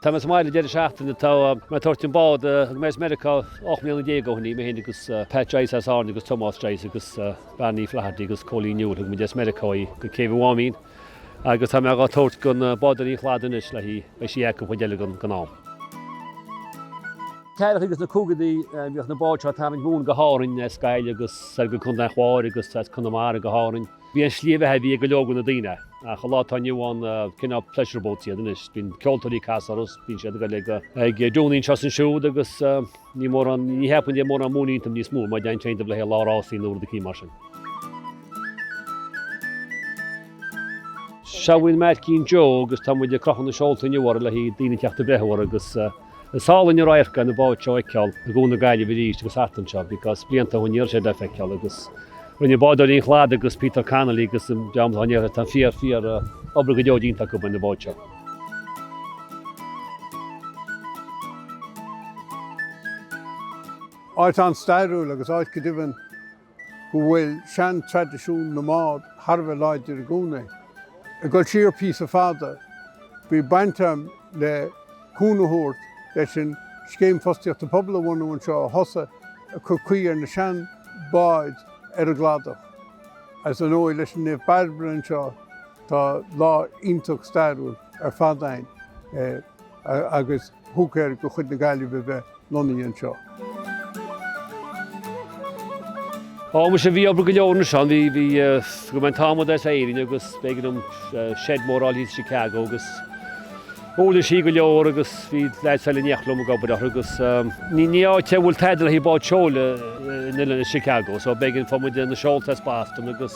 Tá mé sa mbaile deireadh seachtaine le tá mé ag tabhairt an bád. Thug mé as Meiriceá ocht mbliana déag ó shin í, mé féin agus Pat Joyce as Árainn agus Tomás Joyce agus Barney Flaherty agus Coley Newell. Thug muid as Meiriceá í go Céibh an Mháimín agus tá mé dhá tabhairt go na Bádóirí an Chladaigh anois le hí. Beidh sí acu an chuid eile den am. Ceathrachaí agus na caogaidí bhíodh na báid seo ag tarraingt mhóin go hÁrainn is Gaillimh agus go Contae an Chláir agus as Conamara go hÁrainn. B'í an tslí bheatha a bhí ag go leor de na daoine, ach an lá atá inniu ann, cineál pleasure boats iad anois. Bíonn ceoltóirí ag casadh orthu, bíonn siad ag dúnadh anseo is ansiúd agus ní mórán, ní cheapaim go dtéann mórán móin iontu níos mó, mara dtéann sé iontu le haghaidh lá rásaí nó rud eicínt mar sin. Seo í an Máirtín Joe agus tá muid ag crochadh na seolta inniu uirthi le haghaidh daoine teacht ag breathnú uirthi agus. Is álainn an radharc é na báid seo a fheiceáil i gCuan na Gaillimhe arís agus thart anseo because blianta ó shin ní raibh sé le feiceáil agus rinne Bádóirí an Chladaigh agus Peter Connolly agus an dream atá in Iarthar Tá fíor, fíor, obair go deo déanta acu ar na báid seo. Áit an-stairiúil agus áit go deimhin go bhfuil seantraidisiún na mbád thar a bheith láidir i gcónaí. Ag dul siar píosa fada, bhí baint agam le cúnamh a thabhairt leis an Scéim Fostaíochta Pobail a bhunú anseo a thosaigh ag cur caoi ar na seanbháid ar an gCladach. Is ar ndóigh leis an Naomh Bairbre anseo, tá lá iontach stairiúil ar fad ann. agus thug air do chuid na Gaillimhe a bheith lonnaithe anseo. Ó, muise, bhí obair go leor ansin. Bhí, bhí, thug mé an t-adhmad as Éirinn agus b'éigean dom shed mór a fháil i Chicago agus uirlisí go leor agus bhí leaids eile in éineacht liom ag obair uirthi agus ní, ní áit a bhfuil tada le haghaidh báid seoil thall i Chicago so b'éigean, fuair muid na seolta as Boston agus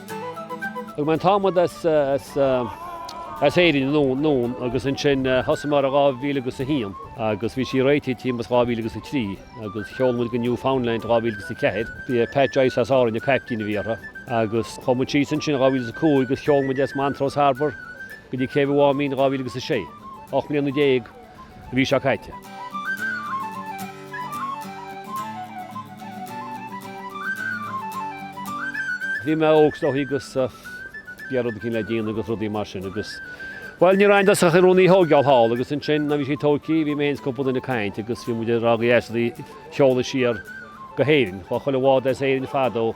Thug mé an t-adhmad as Éirinn anonn agus ansin thosaigh mé uirthi 2000 agus a haon agus bhí sí réitithe timpeall is 2000 agus a trí agus sheol muid go Newfoundland i 2000 agus a ceathair. Bhí Pat Joyce as Árainn an caiptín a bhí uirthi agus chuaigh muid síos ansin i 2000 agus a cúig agus sheol muid as Montrose Harbour go dtí céibh Mháimín i 2000 agus a sé. Ocht mbliana déag. an mhí seo caite. Bhí mé óg is dóichí agus ag iarraidh rud eicínt le déanamh agus rudaí mar sin agus bhuel ní raibh ann i dtosach ach rún í a thóigeáil thall agus ansin nuair a bhí sé tóigthí bhí mé féin is cúpla duine ag caint agus bhí muid ag rá gur dheas an rud í a sheoladh siar go hÉirinn. Chuaigh chuile bhád as Éirinn fadó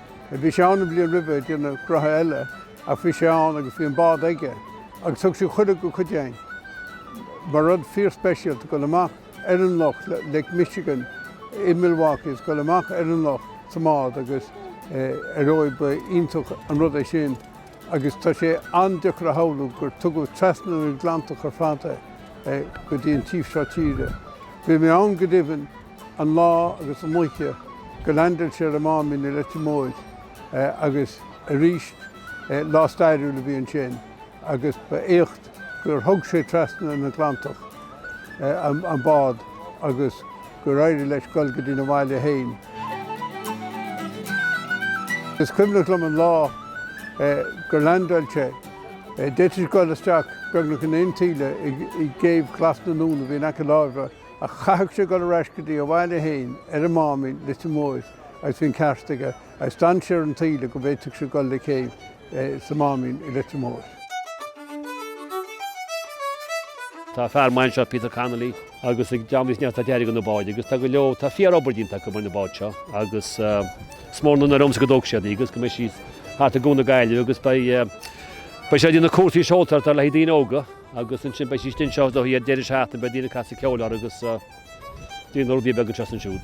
Bhí sé ann an bhliain roimhe ag déanamh gnothaí eile ach bhí sé ann agus bhí an bád aige agus thug sé cuireadh go cuid againn mar rud fíorspeisialta dul amach ar an loch, Lake Michigan i Milwaukee agus dul amach ar an loch sa mbád agus ar ndóigh ba iontach an rud é sin agus tá sé an-deacair a shamhlú gur tugadh trasna an Atlantach ar fad é go dtí an taobh seo tíre. Bhí mé ann go deimhin, an lá agus an oíche gur landáil sé ar an Máimín i Leitir Móir agus arís lá stairiúil a bhí ansin agus ba éacht gur thug sé trasna an Atlantach an bád agus gur éirigh leis dul go dtína bhaile fhéin. Is cuimhneach liom an lá gur landáil sé. D'fhéadfadh sé dul isteach beagnach in aon taoille i gcéibh Ghlas na nUan a bhí in aice láimhe. Ach chaithfeadh sé dul ar ais go dtí a bhaile féin, ar an Máimín, Leitir Móir agus bhí an ceart aige agus d'fhan sé ar an taoille go bhféadfadh sé dul le céibh sa Máimín i Leitir Móir. Tá fear maidhm anseo, Peter Connolly, agus ar dheis Dé an neart atá déanta go na báid agus tá go leor, tá fíor-obair déanta acu go na báid seo agus is mór an onóir dhomsa go dtógfaidh siad í agus go mbeidh sí thart i gCuan na Gaillimhe agus beidh, beidh sé ag déanamh cúrsaí seoltóireacht le daoine óga. Agus ansin beidh sí istigh anseo don deireadh seachtaine, beidh daoine ag casadh ceoil uirthi agus déanamh rudaí beaga anseo is ansiúd.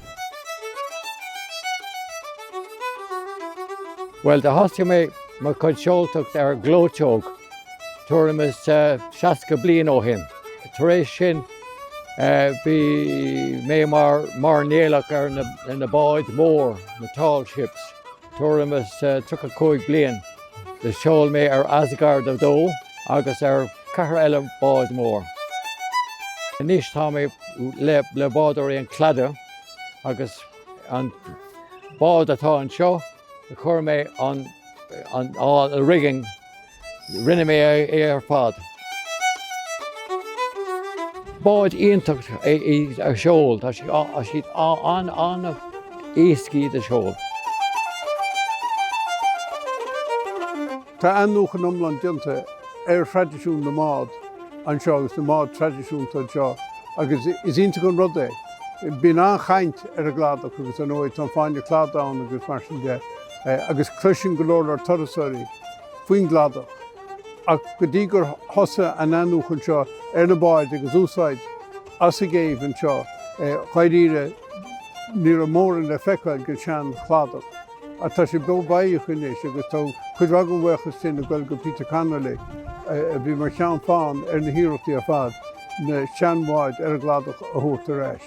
Bhuel, do thosaigh mé mo chuid seoltóireacht ar ghleoiteog tuairim is 60 bliain ó shin. Tar éis sin bhí mé mar mairnéalach ar na báid mhóra, na tall ships. Tuairim is tríocha cúig bliain do sheol mé ar Asgard 2 agus ar cheathair eile bád mór. Anois tá mé le Bádóirí an Chladaigh agus an bád atá anseo a chuir mé an rigging, Rinne mé é ar fad. Bád iontach é í a sheoladh, tá siad an-éasca iad a sheoladh. Tá athnuachan iomlán déanta ar thraidisiún na mbád anseo agus na mbád traidisiúnta anseo agus is iontach an rud é. Bíonn an-chaint ar an gCladach agus ar ndóigh tá an fáinne Cladaigh ann agus mar sin de. agus cloiseann go leor leor turasóirí faoin gCladach, ach go dtí gur thosaigh an athnuachan seo ar na báid agus úsáid as an gcéibh anseo dháiríre ní raibh mórán le feiceáil den tseanChladach. Ach tá sé beo beathach anois agus tá cuid mhaith den bhuíochas sin ag dul go Peter Connolly, a bhí mar cheann feadhain ar na hiarrachtaí ar fad na seanbháid ar an gCladach a thabhairt ar ais.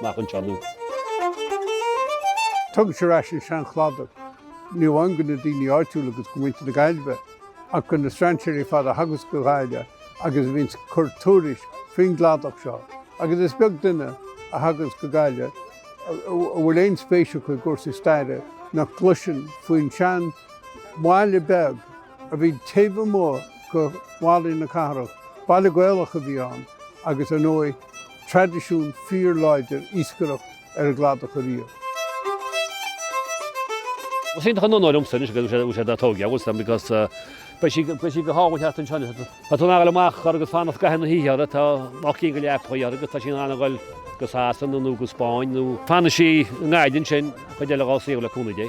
amach anseo. Tugann sé ar ais an sean-Chladach, ní amháin go na daoine áitiúla agus go muintir na Gaillimhe, ach go na strainséirí ar fad a thagas go Gaillimh agus a bhíonns ag cur tuairisc faoin gCladach seo, agus is beag duine a thagas go Gaillimh a bhfuil aon spéis acu i gcúrsaí staire nach gcloiseann faoin seanbhaile beag a bhí taobh amuigh de bhallaí na cathrach. Baile Gaelach a bhí ann agus ar ndóigh, traidisiún fíorláidir iascaireacht ar an gCladach ariamh. Is iontach an onóir domsa anois go bhfuil sí dá tógáil agamsa because beidh sí beidh sí go hálainn thart anseo anois. Tá tú ábalta a ghoil amach chor agus fanacht i gcaitheamh na hoíche uirthi, tá ocht gcinn de leapachaí uirthi agus tá sí in ann a ghoil go Sasana nó go Spáinn nó fanfaidh sí i nGaillimh ansin an chuid eile dhá saol le cúnamh Dé.